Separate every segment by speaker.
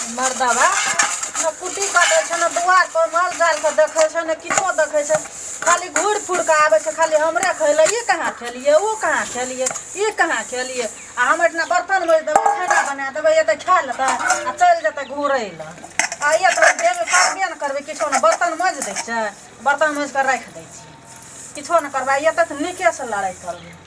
Speaker 1: मर्दवा ने कुट्टी कटै छै ने दुआरपर माल जालके देखै छै ने किछो देखै छै खाली घुरि फुरि कऽ आबै छै खाली हमरे खैले ई कहाँ खेलियै ओ कहाँ खेलियै ई कहाँ खेलियै आ हम एहिठिना बर्तन मोजि देबै खाना बना देबै एतै खा लेतै आ चलि जेतै घुरै लए आ एक बेर देबै करबे ने करबै किछो ने बर्तन मोजि दै छै बर्तन मोजि कऽ राखि दै छियै किछो ने करबै एतै तऽ नीकेसँ लड़ाइ करबै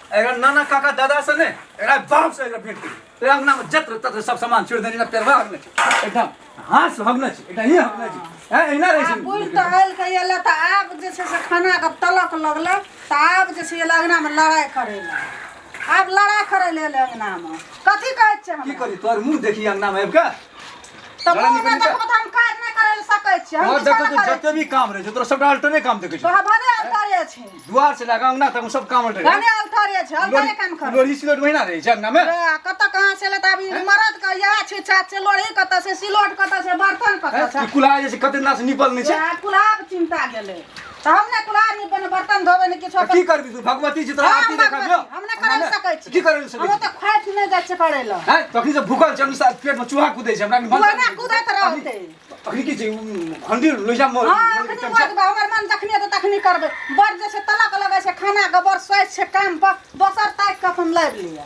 Speaker 1: एकरा नाना काका दादा से ने एकरा बाप से एकरा भेंट करी तो अंगना में जत्र तत्र सब सामान छोड़ देने का पेरवा हगने छी एकदम हाथ से हगने छी एकदम ही हगने छी हैं एना रहे आ छी बुढ़ तऽ आयल कहिया लए तऽ आब जे छै से खाना के तलक लगलै तऽ आब जे छै एलै अंगना मे लड़ाइ करै लए आब लड़ाइ करै लए एलै अंगना मे कथी कहै छै की हमरा करी तोर मुंह देखी अंगना में आबि के तऽ गाना मुँह निकलि में जा। देखबो तऽ हम काज नहि करे ले सकै छी हम और किछो देखो नहि तू करे जते भी काम रहे छै तोरा सबटा अल्टरे काम देखे छी। तोहर भने अल्टरे छै दुआर से लगा अंगना तक सब काम अल्टरे भने अल्टरे छै अल्टरे काम कर लोरी सिलोट महीना रहे छै अंगना में कतऽ कहाँ से लेता अभी मरद के इएह छै छात से लोढ़ी कतऽ से सिलोट कतऽ से बर्तन कतऽ हैं? से ई कुल्हा जे छै कते दिना से निपल नहीं छै कुलाब चिंता गेलै तऽ हम ने कोनो आदमी बने बर्तन धोबै ने किछो तऽ की करबी तू भगवती जी तोरा हँ, आरती हम देखा भगवती, दियो हम नहि करै लए सकै छी। की करै लए सकै हमरो छी तऽ खाइत नहि जाइ छै करै लए हैं तखनी से भूखल छै हमनी साथ पेट में चूहा कूदे छै हमरा के मन ओहिना कूदैत रहतै अखनी की छै हंडी लोजा मोर हँ एखनी बजबै हमर मन जखनी हेतै तखनी करबै बड़ जे छै तलक लगै छै खानाके बड़ सोच छै काम पर दोसर ताकि कऽ अपन लाबि लिअ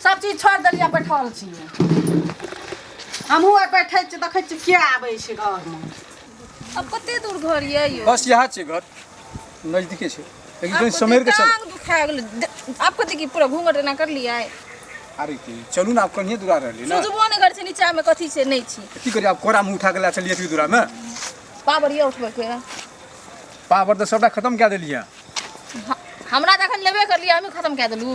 Speaker 1: सब चीज छोड़ देलियै बैठल छी हमहूँ आर बैठै छी देखै छी किया आबै छै घरमे अब कते दूर घर ये यो बस यहाँ छै घर नजदीके छै लेकिन कहीं समेर के चल टांग दुखा गेल आप कते की पूरा घूंघट एना कर लिया है अरे की चलू ना आप कहीं दूरा रहली ना सुजबो ने कर छै नीचा में कथी छै नहीं छी की करी आप कोरा में उठा के ला चलिए दूरा में पावर ये उठबे के पावर तो सबटा खत्म कए देलियै हमरा जखन लेबे कर लिया हमें खत्म कर देलू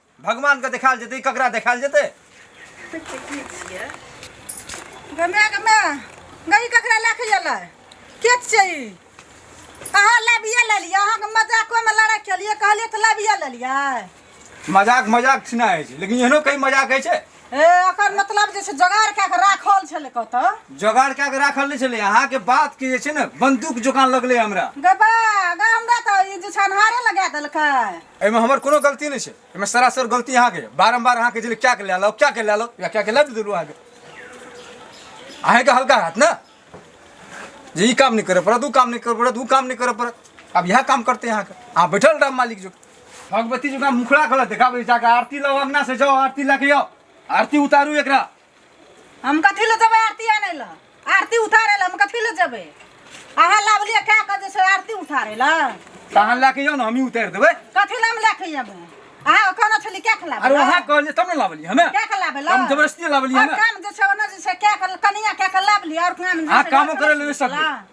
Speaker 1: भगवानके देखायल जेतै ककरा देखायल जेतै गमे गमे गई ककरा लए के एलै के छै ई अहाँ लाबिए लेलियै अहाँके मजाकोमे लड़ाइ केलियै कहलियै तऽ लाबिए लेलियै मजाक मजाक छिना होइ छै लेकिन एहनो कई मजाक होइ छै ए ओकर मतलब जे छै जोगाड़ कए कऽ राखल छलै कतऽ जोगाड़ कए कऽ राखल नहि छलै अहाँके बात के जे छै ने बन्दूक जोकान लगलै हमरा गबा गा हमरा तऽ ई जे छै अन्हारे लगा देलकै एहिमे हमर कोनो गलती नहि छै एहिमे सरासर गलती अहाँके यऽ। बारम्बार अहाँके जे क्या के लए लो क्या के लए लो या क्या के लए भी देलहुँ अहाँके अहाँके हल्का हाथ ने जे ई काम नहि करऽ पड़त ओ काम नहि करऽ पड़त ओ काम नहि करऽ पड़त आब इएह काम करतै अहाँके अहाँ बैठल रहब मालिक जो भगवती जी का मुखड़ा गलत देखाबै जाके आरती लाओ अंगना से जाओ आरती लए के आओ आरती उतारू एकरा हम कथी लए जेबै आरती आनै लए आरती उतारै लए हम कथी लए जेबै अहाँ लाबलिए कए कऽ जे छै आरती उतारै लए तहन लए के यौ ने हमही उतारि देबै कथी लए हम लए कऽ अयबै अहाँ कहने छली कए कऽ लाबै अरे वहाँ कहलियै तब ने लाबलियै हमे कए कऽ लाबै लए हम जबरदस्ती लाबलियै आओर हमे काम जे छै ओना जे छै कए कऽ कनिया कए कऽ लाबलिए आओर काम जे अहाँ छै कामो लए करै लए कऽ नहि सकबै। लाबलिए।